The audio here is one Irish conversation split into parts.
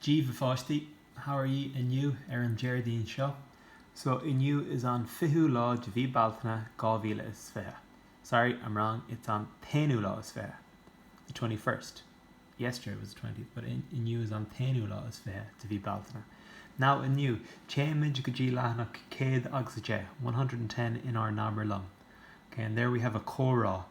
Daoibh a pháistí, how are ye inniu ar an Déardaoin seo? So inniu is an fichiú lá de mhí Bealtaine dhá mhíle is fiche. Sorry, I'm wrong, it's an t-aonú lá is fiche. The twenty first. Yesterday was the twentieth, but inniu is an t-aonú lá is fiche de mhí Bealtaine. Now, inniu, téimid go dtí leathanach céad agus a deich, one hundred and ten, in ár nAbair Liom. Okay, and there we have a comhrá.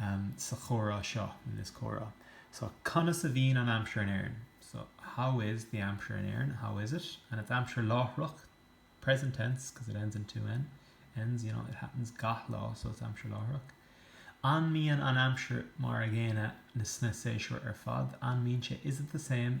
em, sa chomhrá seo, in this comhrá, so conas a bhíonn an aimsir in Éirinn? So, how is the aimsir in Éirinn? How is it? And it's aimsir láithreach, present tense, because it ends in two N, ends, you know, it happens gach lá, so it's aimsir láithreach. An mbíonn an aimsir mar an gcéanna sna séasúir ar fad? An mbíonn sé, is it the same?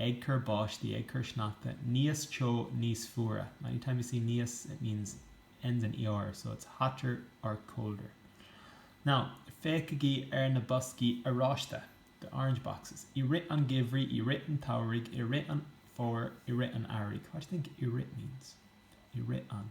ag cur báistí, ag cur sneachta, níos teo, níos fuaire, anytime you see níos it means ends in ER so it's hotter or colder. Now, féachaigí ar na boscaí oráiste, the orange boxes. I rith an gheimhridh, i rith an tsamhraidh, i rith an fómhair, i rith an earraigh, what do you think i rith means? i rith an.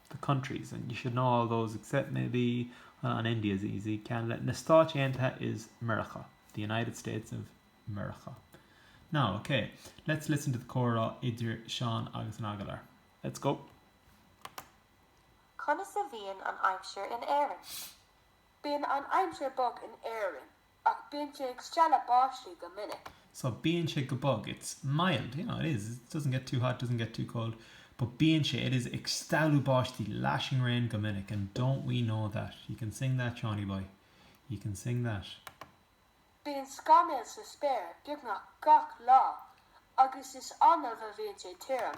the countries, and you should know all those except maybe, well an India is easy, Ceanada, na Stáit Aontaithe Mheiriceá, the United States of Meiriceá. Now, ok, let's listen to the comhrá idir Seán agus an agallóir. Let's go! Conas a bhíonn an aimsir in Éirinn? Bíonn an aimsir bog in Éirinn. Ach bíonn sé ag stealladh báistí go minic. So bíonn sé go bog. It's mild, you know, it is, it doesn't get too hot, doesn't get too cold. But bíonn sé, it is, ag stealladh báistí, lashing rain, go minic. And don't we know that. You can sing that, Seánie Boy. You can sing that. Bíonn scamaill sa spéir beagnach gach lá agus is annamh a bhíonn sé tirim.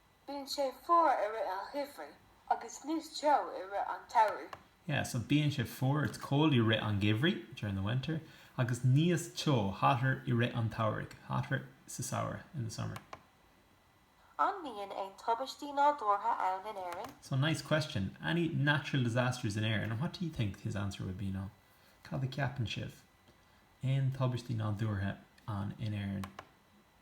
Bíonn sé fuar i rith an gheimhridh agus níos teo i rith an tsamhraidh. Yeah, so bíonn sé fuar, it's cold i rith an gheimhridh, during the winter, agus níos teo, hotter, i rith an tsamhraidh, hotter, sa samhradh, in the summer. An mbíonn aon tubaistí nádúrtha ann in Éirinn? So, nice question. Any natural disasters in Éirinn? And what do you think his answer would be now? Cad a cheapann sibh? Aon tubaistí nádúrtha ann in Éirinn?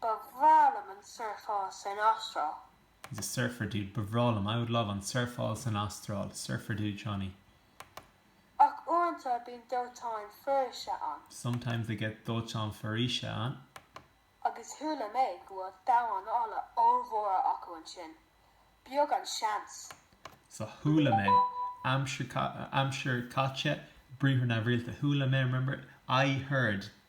Ba bhreá liom an surfáil san Astráil. He's a surfer dude. Ba bhreá liom, I would love, an surfáil san Astráil. Surfer dude, Johnny. Ach uaireanta bíonn dóiteáin foraoise ann. Sometimes they get dóiteáin foraoise ann. Agus chuala mé go bhfuil damháin alla ollmhóra acu ansin. Beag an seans. So, chuala mé, aimsir chaite, briathar neamhrialta, chuala mé, remember? I heard.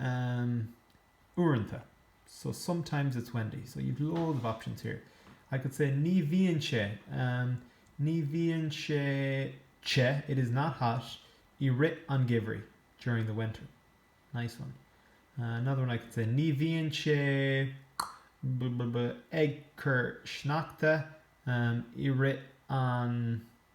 Um. Uaireanta. So sometimes it's windy. So you've loads of options here. I could say Ní bhíonn sé Um. Ní bhíonn sé te It is not hot i rith an gheimhridh during the winter. Nice one. Another one I could say Ní bhíonn sé blah blah blah ag cur sneachta Um. i rith an.